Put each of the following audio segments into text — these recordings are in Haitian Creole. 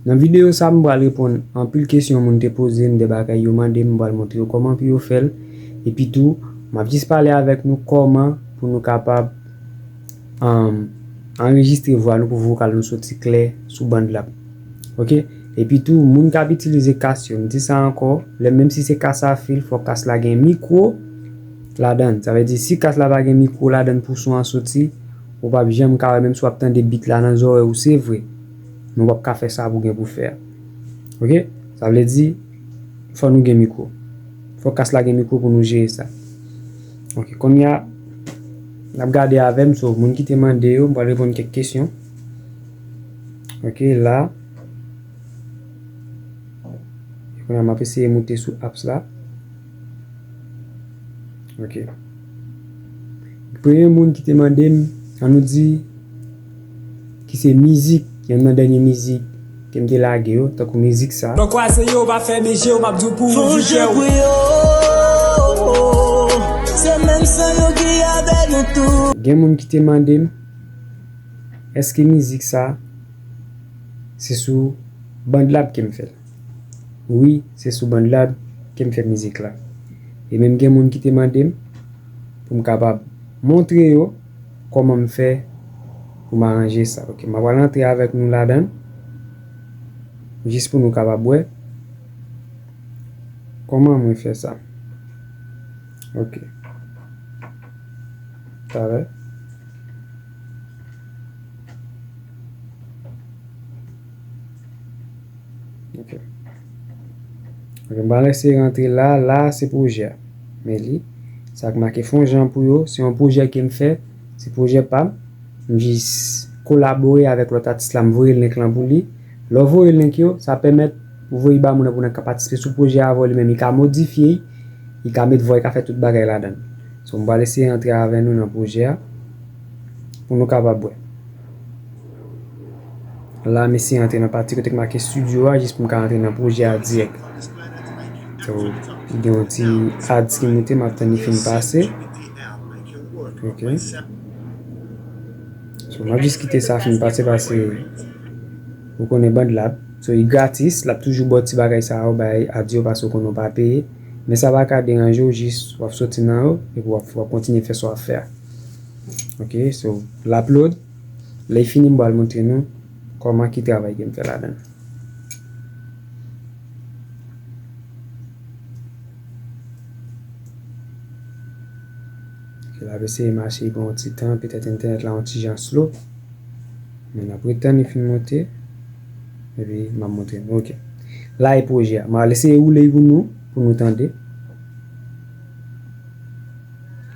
Nan videyo sa m pral reponn anpil kesyon moun te poze m de bagay yo mande m m pral montre yo kòman pou yo fèl epi tou map jis pale avèk nou kòman pou nou kapab anrejistre vwa nou pou vokal nou soti klè sou band la ok epi tou moun kap itilize kas yo m di sa ankò lè menm si se kas a fil fòk kas la gen mikwo ladann sa vle di si kas la pa gen mikwo ladann pou son an soti ou pap janm ka wè menm si wap tande beat la nan zòrèy ou se vre. men wap ka fè sa pou gen pou fè a ok sa vle di fò nou gen mikro fò kas la gen mikro pou nou jere sa ok konnya nap gade avèm so moun ki te mande yo m pral reponn kèk kesyon ok la konnya map eseye moute sou apps la ok premye moun ki te mandem an nou di. Ki se mizik, yonn nan dènye mizik ke m te lage yo, tankou mizik sa. Mwen kwaze yo, pa fèmen je w, m ap di w pou ou vi kè w. Fon je pou yo, se menm san yo ki avè nou tou. Gen moun ki te mande m, èske mizik sa, se sou BandLab ke m fè l? Wi, se sou BandLab ke m fè mizik la. E menm gen moun ki te mande m, pou m kapab montre yo. Koman m fè pou m aranje sa ok ma pral antre avèk nou ladann jis pou nou kapab wè Koman mwen fè sa ok talè. Mwen pa resi rantre la, la se pwojè a. Men li, sa k make fon jan pou yo, se yon pwojè ke m fè, se pwojè pa m. M jis kolabore avèk lòt atis la, m voye link lan pou li. Lè w voye link yo, sa pèmèt ou voye ba moun nan pou moun nan ka patisipe sou pwojè a avè w li menm. Li ka modifye l, li ka met vwa, li ka fè tout bagay ladan l. So m pral eseye rantre avè nou nan pwojè a pou nou kapab wè. La mesi antre nan pati kote k make studio a jis pou m ka antre nan pwojè a dirèk. So, gen yon ti ads ki moute m ap tann li fin pase. Ok. So, m ap jis kite sa fin pase pase ou konnen band lab. So, li gratis, l ap toujou ba w ti bagay sa yo bay ads yo pase ou konnen ou pa peye. Men sa pa ka deranje w jis w ap soti nan yo epi w ap kontinye fè sa w ap fè a. Ok so lap load lèy fini m bal montre nou kòman ki travay kem fè ladann. Lap eseye mache li pran yon ti tan petèt entènèt la yon ti jan slow men nap ret tann li fin monte epi map montre nou ok la e pwojè a mal eseye woule li pou nou pou nou tande.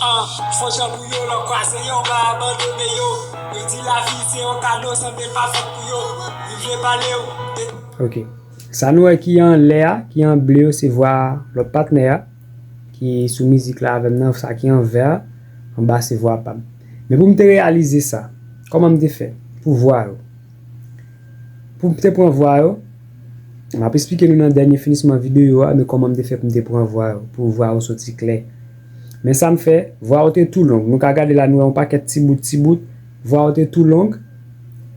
An, fò jan pou yo lò kwaze yo pa abandone yo Yo di lavi se yon kado san te pa fèt pou yo Li vle pale w de. Ok. Sa nou wè ki anlè a, ki an ble yo se vwa lòt patnè a ki sou mizik la avè m nan, sa ki an vè a, an ba se vwa pa m. Men pou m te reyalize sa, kòman m te fè pou vwa yo? Pou m te pran vwa yo, m ap esplike nou nan dènye finisman videyo a, men kòman m te fè pou m te pran vwa yo, pou vwa yo soti klè. Men sa m fè, vwa ou te tou long. Nou ka gade la, nou wè yon pakèt ti bout, ti bout. Vwa ou te tou long.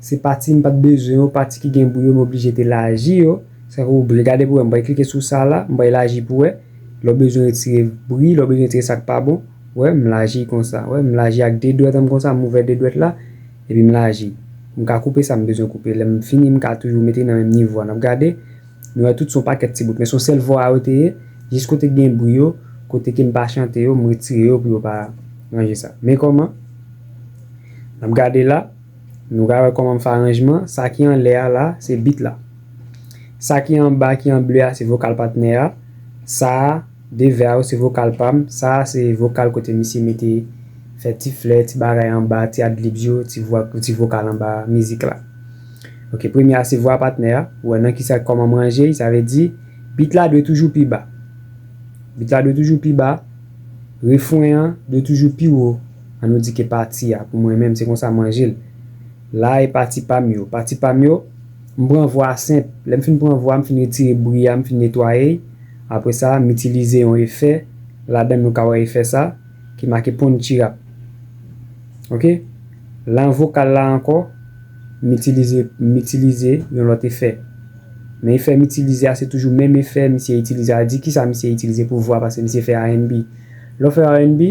Se pati m pa t bezwen yo, pati ki gen bri yo, m oblije te laji yo. Sa fè ou byen gade pou wè. M bay klike sou sa la, m bay laji pou wè. Lè w bezwen retire bri, lè w bezwen retire sa k pa bon, wè, m laji konsa. Wè, m laji ak de dwèt an m konsa, m ouvè de dwèt la, epi m laji. M ka koupe sa m bezwen koupe. Lè m fini, m ka toujou mete nan menm nivo a. N ap gade. Nou wè tout son pakèt ti bout men son sèl vwa yo te ye jis kote k gen bri yo kote ke m pa chante yo m retire yo pou yo pa ranje sa men kòman n ap gade la nou ka wè kòman m fè aranjman sa ki anlè a la se bit la sa ki anba ki an ble a se vokal patnè a sa a de vè a yo se vokal pa m sa a se vokal kote misye mete fè ti flè ti bagay anba ti adlibs yo ti vwa ti vokal anba mizik la. Ok premye a se vwa patnè a ou wè nan kisa kòman m ranje l sa vle di beat la dwe toujou pi ba beat la dwe toujou pi ba refren an dwe toujou pi wo an nou di ke pati a pou mwen menm se konsa m ranje l la e pati pa m yo pati pa m yo m pran vwa a senp lè m fin pran vwa a m fin retire bri a m fin netwaye l apre sa m itilize yon efè ladan l nou ka wè efè sa ki make ponchirap ok. Lan vokal la ankò, m itilize m itilize yon lòt efè. Men efè m itilize a se toujou menm efè misye itilize a. Di kisa misye itilize pou vwa paske misye fè RNB. Lè w fè RNB,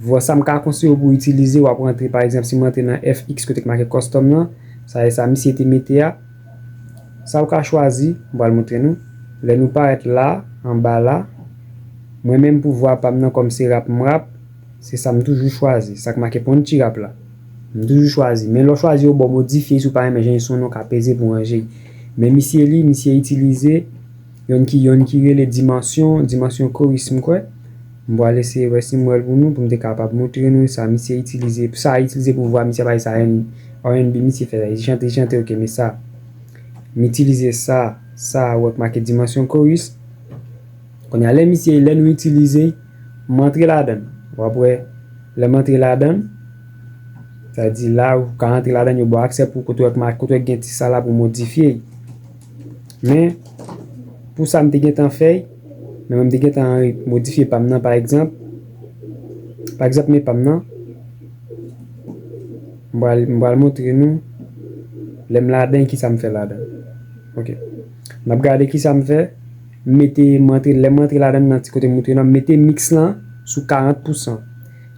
vwa sa m ka konseye w pou w itilize, w ap rantre pa egzanp si m rantre nan FX kote ki make Custom lan, sa e sa misye te mete a. Sa ou ka chwazi, m pral montre nou. Lè nou parèt la, anba la, mwen menm pou vwa pa m nan kòm se rap m rap, Se sa m toujou chwazi. Sa k make Pon Tirap la. M toujou chwazi. Men lè w chwazi yo ba w modifye si w pa renmen jan li sonnen w ka peze pou w ranje l. Men misye li, misye itilize yonn ki yonn ki rele Dimension, Dimension Chorus m kwè. M pral eseye wè si m wè l pou nou pou m te kapab montre nou sa misye itilize, sa a itilize pou vwa misye a pa e sa RNB misye fè la. Li chante, li chante ok men sa m itilize sa, sa a ou wè k make Dimension Chorus. Kounye a lè misye, lè nou itilize. M antre ladann. W ap wè, lè m antre ladann, sa di la ou ka antre ladann yo ba w aksè pou kote w wè gen ti sa la pou modifye y. Men, pou sa m te gentan fè y, men mwen m te gentan modifye pa m nan pa egzanp, pa egzanp men pa m nan, m pral, m pral montre nou lè m ladan kisa m fè ladan. Ok. N ap gade kisa m fè. M mete, m rantre, lè m rantre ladann nan ti kote m moutre nan, m mete mix lan sou 40 pousan.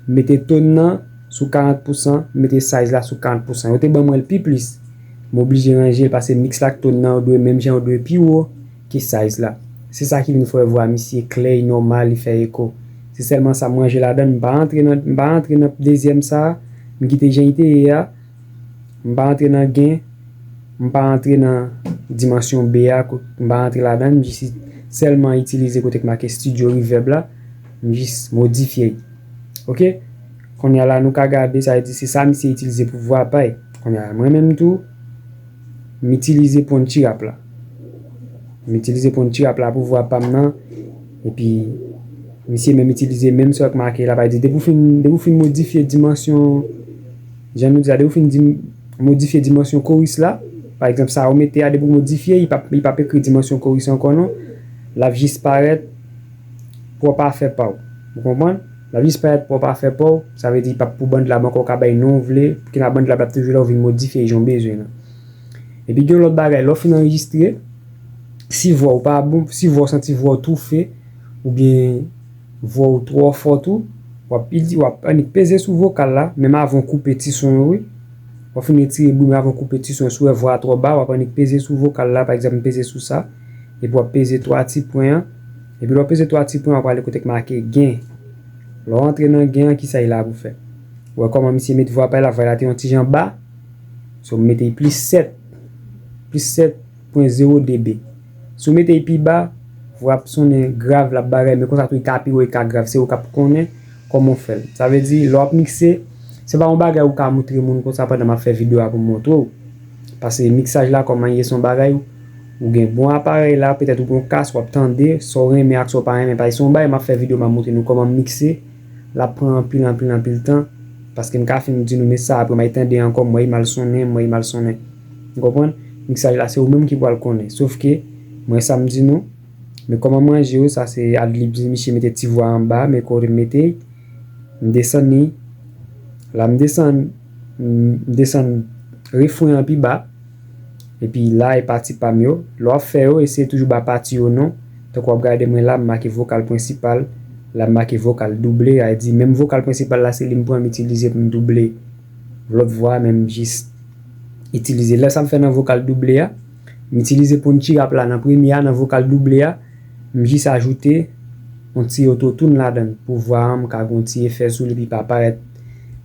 M mete tone nan sou 40 pousan, m mete size la sou 40 pousan. Yo te ban mwen l pi plis. M oblije ranje l pase mix la ak tone nan yo dwe menm jan, yo dwe pi wo ke size la. Se sa ki vin fè vwa misye klè, li nòmal, li fè eko. Se sèlman sa m ranje ladann, m pa rantre nan, m pa rantre nan dezyèm sa a, m kite jan li te ye a. M pa antre nan gen, m pa antre nan dimansyon be a, m pa antre ladan, m jis sèlman itilize kote k make studio reverb la, m jis modifye li. Ok, konnya la nou ka gade sa vle di se sa misye itilize pou vwa pay. Konnya la mwen menm tou, m itilize Punchy Rap la. M itilize Punchy Rap la pou vwa pa m nan, epi misye menm itilize menm sa k make la, pa di depi w fin depi w fin modifye dimansyon. Jan nou di la, depi ou fin di modifye dimansyon koris la, pa egzanp sa ou mete a depi ou modifye li pap ekri dimansyon koris ankò non, lap jis parèt pwòp afè pa w. Ou konprann? Lap jis parèt pwòp afè pa w, sa vle di li pap pou BandLab ankò ou ka bay non ou vle, ki nan BandLab lap toujou la ou vin modifye jan ou bezwen nan. Epi gen yon lòt bagay, lè ou fin anrejistre, si vwa ou pa bon, si vwa ou santi vwa ou toufe oubyen. Vwa ou twò fò tou, wap il di wap annik peze sou vokal la menm avan w koupe ti son yo wi wap fin retire bri men avan w koupe ti son yo si w wè vwa a twò ba wap annik peze sou vokal la pa egzanp m peze sou sa epi wap peze 3 ti pwen an epi lè w peze 3 ti pwen an wap ale kote k make gen lè w antre nan gen an kisa y la pou fè ou wè kòman misye met vwa pa y la vwa y la te yon ti jan ba so m mete y plis 7 plis 7. pwen zewo dB. Si w mete l pi ba, vwa ap sonnen grav, l ap bagay, men konsa tou li ka pi wo, li ka grav. Se ou k ap konnen kòman w fè l. Sa vle di, lè w ap mikse, se pa yon bagay ou ka moutre moun konsa pandan m ap fè videyo a pou m montre w. Pase miksaj la kòman l ye se yon bagay ou gen bon aparèy la, petèt ou gen yon kas, w ap tande sa w renmen ak sa w pa renmen. Pase se yon bagay m ap fè videyo, m ap moutre nou kòman m mikse, l ap pran anpil anpil anpil tan, paske m ka fin m di nou men sa apre m al tande ankò m wè li mal sonnen, m wè li mal sonnen. Ou konprann? Miksaj la se ou menm ki pwal konnen. Sof ke, mwen sa m di nou, men kòman m ranje yo, sa se ad-lib li, misye mete ti vwa anba, men kote m mete y, m desann li, la m desann, m desann refren an pi ba, epi la e pati pa m yo, lè w ap fè yo, eseye toujou ba pati yo non, tankou w ap gade mwen la, m make vokal prensipal, la m make vokal double, sa vle di menm vokal prensipal la se li m pran m itilize pou m double lòt vwa a men m jis. itilize. Lè sa m fè nan vokal double a, m itilize punchi rap la nan premye a nan vokal double a, m jis ajoute yon ti autotune ladan l pou vwa an m ka gen yon ti efè sou li epi pa parèt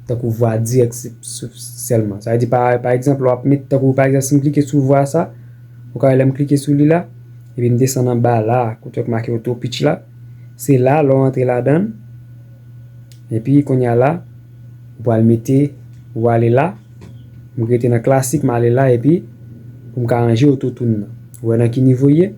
tankou vwa dirèk sèlman. Sa vle di pa pa egzanp lè w ap met tankou pa egzanp si m klike sou vwa sa, ou ka wè lè m klike sou li la epi m desann anba la a kote yo t make auto pitch la, se la lè w antre ladan l epi kounye a la ou pral mete ou ale la. M rete nan klasik m ale la epi pou m ka ranje ototoun nan. Ou wè nan ki nivo l ye?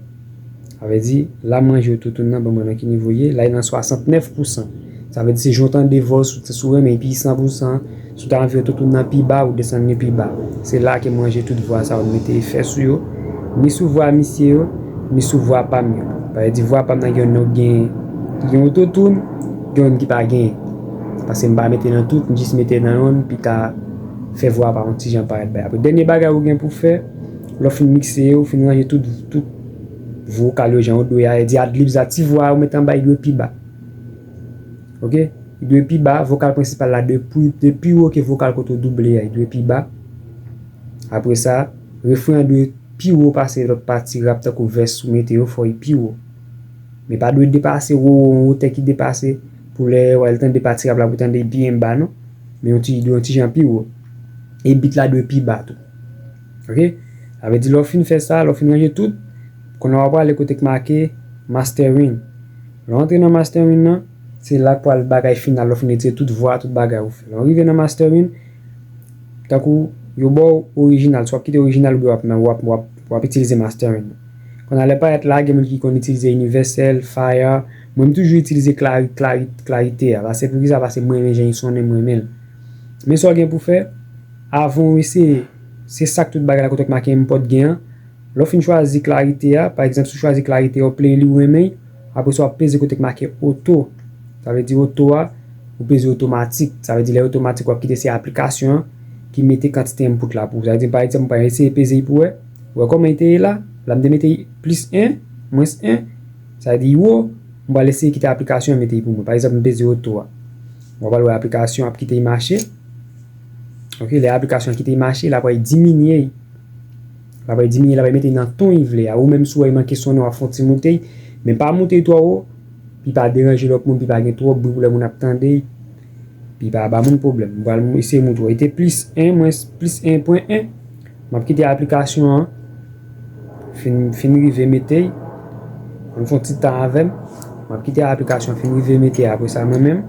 Sa vle di, la m ranje ototoun nan ban mwen nan ki nivo l ye, la li nan 69 pousan. Sa vle di se jan w tande vwa w si w renmen li pi 100 pousan, si w ta anvi ototoun nan pi ba ou desann li pi ba. Se la ke m ranje tout vwa sa yo m mete efè sou yo, ni sou vwa misye yo, ni sou vwa pa m yo. Sa vle di vwa pa m nan gen youn ki gen ototoun, gen youn ki pa genyen. Paske m pa mete nan tout, m jis mete nan youn pi ta fè vwa pa yon ti jan parèt bay apre. Dènye bagay ou gen pou fè, lè w fin mikse yo, fin ranje tout vokal yo jan yo dwe a, e di ad-libs la, ti vwa a ou mete anba yo dwe pi ba. Ok? Yo dwe pi ba, vokal prensipal la dwe pi wo ke vokal kote ou double a, yo dwe pi ba. Apre sa, refren an dwe pi wo pase lòt pati rap tankou vès ou mete yo fò yo pi wo. Men pa dwe depase wo, yon wotè ki depase. Pou lè wal tande pati rap la pou tande byen ba non men yon ti yon ti jan pi wo e bit la dwe pi ba tou ok sa vle di lè w fin fè sa lè w fin ranje tout kounye a wap prale kote k make mastering lè w antre nan mastering nan se la k pral bagay final lè w fin retire tout vwa tout bagay ou fè lè w rive nan mastering tankou yo ba w orijinal swa wap kite orijinal oubyen wap nan wap wap wap itilize mastering kounye a lè payèt la gen moun ki konn itilize inivèsèl fire. Mwen m toujou itilize clari clari clarite a pase poukisa pase m renmen jan li sonnen m renmen l men sa w gen pou fè avan w eseye se sak tout bagay la kote w t make enpòt gen an lè w fin chwazi clarite a pa egzanp si w chwazi clarite a w play li w renmen l apre sa w ap peze kote k make oto sa vle di oto a ou peze otomatik sa vle di lè l otomatik w ap kite se aplikasyon an ki mete kantite enpout la pou ou sa vle di pa egzanp m pral eseye peze li pou w wè wè kòman li te ye la la m te mete plis 1 mwens 1. Sa vle di iwo, m pral eseye kite aplikasyon an mete pou mwen. Pa egzanp m peze oto a. W a pral wè aplikasyon an ap kite i mache. Ok, lè aplikasyon an kite i mache, l ap pral diminye i. L ap pral diminye, l ap pral mete i nan ton i vle a. Ou menm si w wè i manke sonnen w ap fè yon ti moute i. Men pa moute i twò wo, pi pa deranje lòt moun, pi pa gen twòp bri pou lè moun ap tande i. Pi pa ba moun pwoblèm. M pral eseye moute w. E te plis 1 mwens plis 1 pwen 1. Map kite aplikasyon an fin fin rive mete y ann fon ti tan avèm map kite aplikasyon an fin rive mete apre sa mwen menm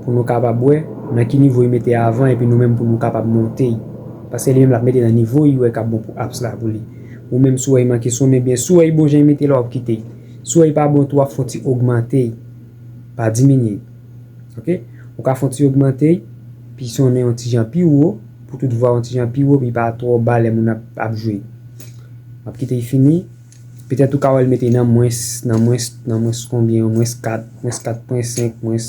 pou nou kapab wè nan ki nivo y mete avan epi nou menm pou nou kapab monte y paske li menm lap mete nan nivo y wè kap bon pou apps la pou li ou menm si w wè y manke sonnen byen si w wè y bon jan y mete la wap kite y si w wè y pa bon tou wap fon ti ogmante y pa diminye y ok ou ka fon ti ogmante y pi sonnen yon ti jan pi wo. Pou tout vwa yon ti jan pi wo, pi pa twò ba lè moun ap ap jwe. M ap kite y fini. Petèt ou ka wè l mete nan mwens, nan mwens, nan mwens konbyen yo, mwens 4, mwens 4 pwen 5, mwens,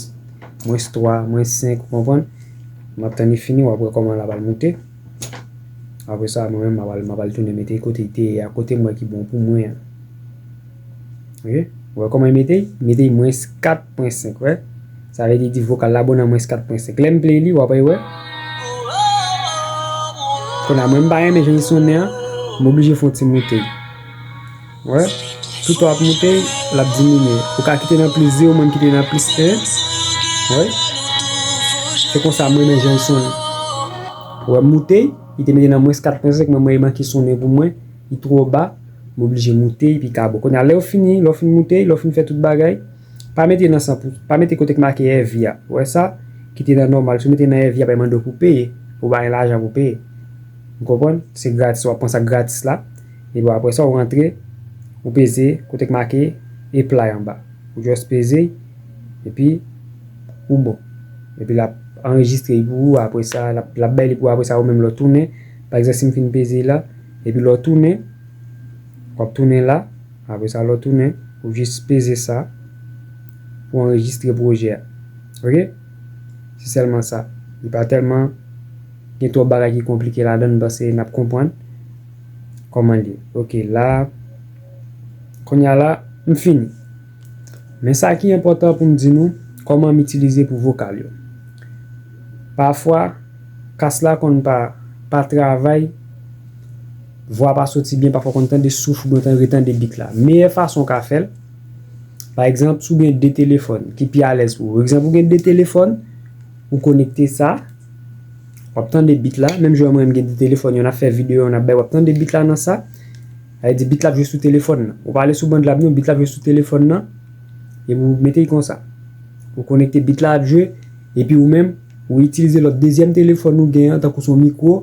mwens 3, mwens 5, ou konprann? M ap tann li fini, w ap wè kòman l ap al moute. Apre sa, mwen menm m ap al, m ap al tounen mete l kote l te ye a, kote m wè ki bon pou mwen an. Ok, ou wè kòman y mete y? Mete y mwens 4 pwen 5, wè? Sa vle di vokal la bon nan mwens 4 pwen 5. Lè m play li, w ap wè? Kounye a mwen m pa renmen jan l sonnen an, m oblije fè yon ti moute l. Ou wè? Tout tan w ap moute l, l ap diminye. Ou ka kite nan plis 2, ou menm kite nan plis 1. Ou wè? Se konsa m renmen jan l sonnen. Ou wè m moute l, li te mete nan mwens 4 pwen 5, men m wè li manke sonnen pou mwen. li twò ba, m oblije moute epi kabo. Kounye a, lè ou fini, lè w fin moute, lè w fin fè tout bagay, pa mete nan 100 pou, pa mete kote ki make èvi a, ou wè sa, kite nan nòmal. Si w mete nan èvi, y ap mande w pou w peye, ou bay lajan pou w peye. Ou konprann? Se gratis, w ap pran sa k gratis la, epi apre sa ou rantre, ou peze kote ki make Apply anba. Ou just peze, epi ou bon. Epi l ap anrejistre li pou ou, apre sa, l ap bay li pou ou, apre sa ou menm lè w tounen. Pa egzanp si m fin peze la, epi lè w tounen, w ap tounen la, apre sa lè w tounen, ou jis peze sa pou w anrejistre pwojè a. Ok? Se sèlman sa. Li pa tèlman gen twòp bagay ki konplike ladan l m panse n ap konprann kòman l ye. Ok la, kounya la, m fini. Men sa ki enpòtan pou m di nou, kòman m itilize pou vokal yo. Pafwa, kas la konn pa pa travay, vwa pa soti byen, pafwa w konn tande souf oubyen w konn retande bit la. Meyè fason w ka fè l, pa egzanp, si w gen de telefòn ki pi alèz pou ou. Egzanp, ou gen de telefòn, ou konekte sa, w ap tande bit la, menm jan mwen m gen de telefòn, youn ap fè videyo, youn ap bay, w ap tande bit la nan sa. Sa vle di bit la ap jwe sou telefòn nan. Ou pa ale sou band la non, bit la ap jwe sou telefòn nan, epi ou mete li konsa. Ou konekte bit la ap jwe, epi ou menm ou itilize lòt dezyèm telefòn ou gen an tankou se yon mikwo,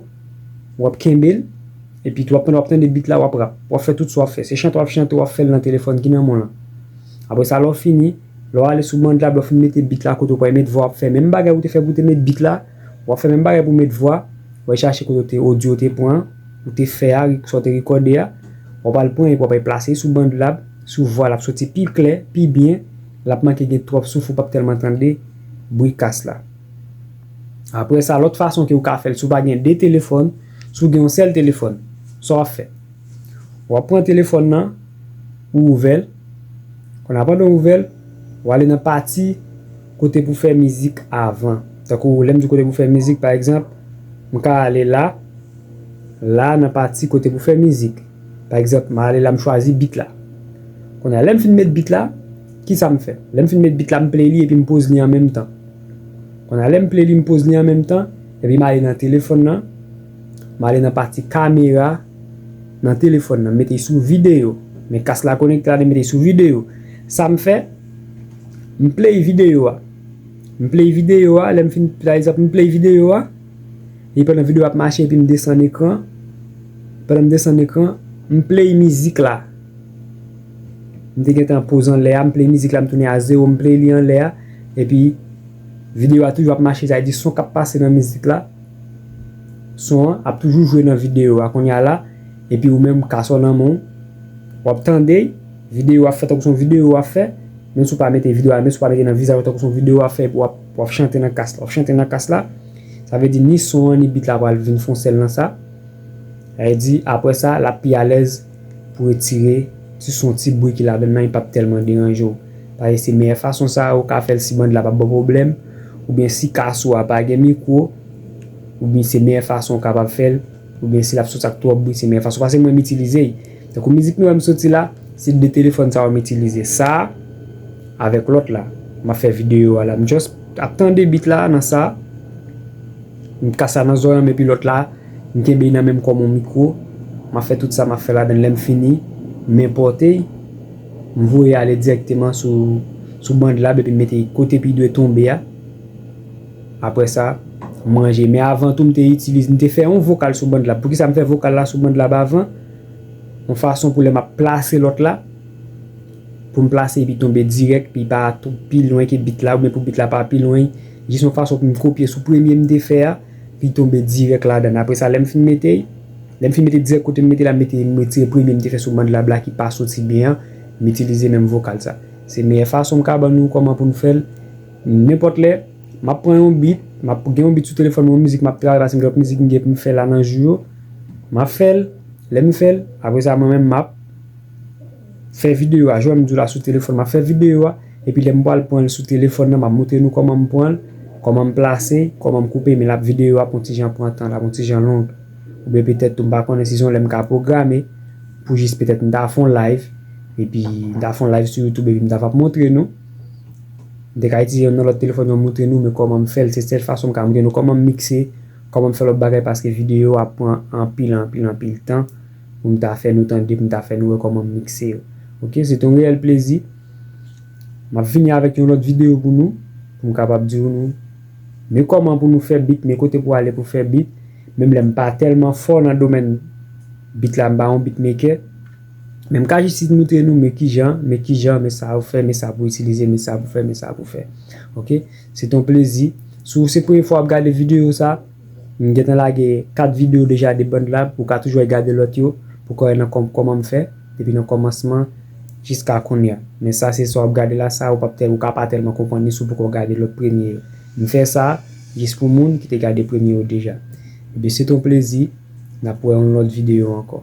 ou ap kenbe l, epi tou pandan w ap tande bit la w ap rap. W ap fè tout sa w ap fè. Se chante w ap chante w ap fè l nan telefòn ki nan men w lan. Apre sa lè w fini, lè w ale sou band la, lè w fin mete bit la kote ou pral met vwa w ap fè menm bagay ou te fè pou w te met bit la. Wap fè menm bagay pou met vwa, wal chache kote ou te audio te pran an, ou te fè a, sa ou te rekòde a, wap al pran epi wap al plase sou bandlab, sou vwa lap soti pi klè, pi byen, lap manke gen twòp souf ou pap tèlman tande bri kas la. Aprè sa lòt fason ke ou ka fèl si ou pa gen 2 telefòn, si ou gen yon sèl telefòn, sa wap fè? Wap pran telefòn nan, ou ouvèl, konnè a pandan ou ouvèl, wale nan pati. Kote pou fè mizik avan. Tankou lè m di kote pou fè mizik, pa egzanp, m ka ale la, la nan pati kote pou fè mizik. Pa egzanp, m ale la m chwazi bit la. Kounye a, lè m fin met bit la, ki sa m fè? Lè m fin met bit la, m play li epi m poz li an menm tan. Kounye a, lè m play li, m poz li an menm tan, epi m ale nan telefòn nan, m ale nan pati kamera nan telefòn nan, m mete l sou videyo. Men kas la konekte la, men m mete l sou videyo. Sa m fè? M play videyo a. M play videyo a, lè m fin pa egzanp m play videyo a, e pandan videyo a ap mache epi m desann ekran, pandan m desann ekran, m play mizik la, m te gentan poz anlè a, m play mizik la m tounen a zewo, m play li anlè a, epi videyo a toujou ap mache sa vle di son k ap pase nan mizik la, son an ap toujou jwe nan videyo a, kounye a la, epi ou menm kasò nan men w, w ap tande. Video wap fè tankou son video wap fè menm si ou pa mete video a menm si ou pa mete nan vizaj ou tankou son video wap fè epi wap chante nan kas la wap chante nan kas la sa vle di ni son an ni beat la pral vin fon sèl nan sa sa vle di aprè sa lap pi alèz pou retire ti son ti bri ki ladann nan li pap tèlman deranje w paske se meyè fason sa ou ka fèl si band la pap baw pwoblèm oubyen si kas ou a pa gen mikwo oubyen se meyè fason ou kapab fèl oubyen si lap soti ak twòp bri se meyè fason paske mwen m itilize. Tankou mizik nou wè m soti la, se 2 telefòn sa yo m itilize. Sa avèk lòt la. M ap fè videyo a la. M just ap tande beat la nan sa. M ka sa nan zorèy m epi lòt la m kenbe nan menm kòm yon mikwo. M ap fè tout sa m ap fè ladan l. Lè m fini, m enpòte l. M voye ale dirèkteman sou bandlab epi m mete l kote pi dwe tonbe a. Aprè sa, m ranje. Men avan tou m te itilize, m te fè yon vokal sou bandlab. Poukisa m fè vokal la sou bandlab avan? yon fason pou lè map plase lòt la poum plase epi tonbe dirèk epi pa pi lwen ke bit la oubyen pou bit la pa pi lwen jis yon fason poum kopye sou premye m te fè a li tonbe dirèk ladann apre sa lèm fin mete lèm fin mete dirèk kotem mete la m mete m retire premye m te fè sou Bandlab la ki pa soti byen an m itilize menm vokal sa se meyè fason m ka ban nou kòman poun fèl. Nenpòt lè, m ap pran yon beat, m ap gen yon beat sou telefòn mwen, yon mizik m ap travay paske m gen lòt mizik m gen pou m fè la nan jou yo. M ap fè l, lè m fè l, apre sa mwen menm m ap fè videyo a, jan m di w la sou telefòn m ap fè videyo a, epi lè m pral pran l sou telefòn nan m ap montre nou kòman m pran l, kòman m plase, kòman m koupe, men l ap videyo ap yon ti jan pran tan, l ap yon ti jan long. Oubyen petèt tou m pa konnen si se yon lè m ka pwograme pou jis petèt m ta fè yon live, epi m ta fè yon live sou youtube epi m ta va montre nou. Mte ka itilize yon nan lòt telefòn yo moutre nou men kòmanm fèl se sèl fason mka moutre nou kòmanm mikse kòmanm fè lòt bagay paske videyo ap pran anpil anpil anpil tan poum ta fè nou tande poum ta fè nou wè kòmanm mikse yo ok se te yon reyèl plezi map vini avèk yon lòt videyo pou nou poum kapab di nou men kòman pou nou fè bit men kote pou ale pou fè bit menm lèm pa tèlman fò nan domèn bit la mpa yon bit mekè. Men m ka jis isit moutre nou men kijan, men kijan, men sa ou fè, men sa pou itilize, men sa pou fè, men sa pou fè. Ok, se te yon plezi. Si se premye fwa w ap gade videyo sa, m gen tan lage 4 videyo deja de BandLab, ou ka toujou al gade lòt yo pou w ka wè nan kòman m fè depi nan kòmansman jiska kounya. Men sa se sa w ap gade la, sa ou pap tèlman, ou ka pa tèlman konprann li si w poko gade lòt premye yo. M fè sa jis pou moun ki te gade premye yo deja. Ebyen se t on plezi, nap wè yon lòt video ankò.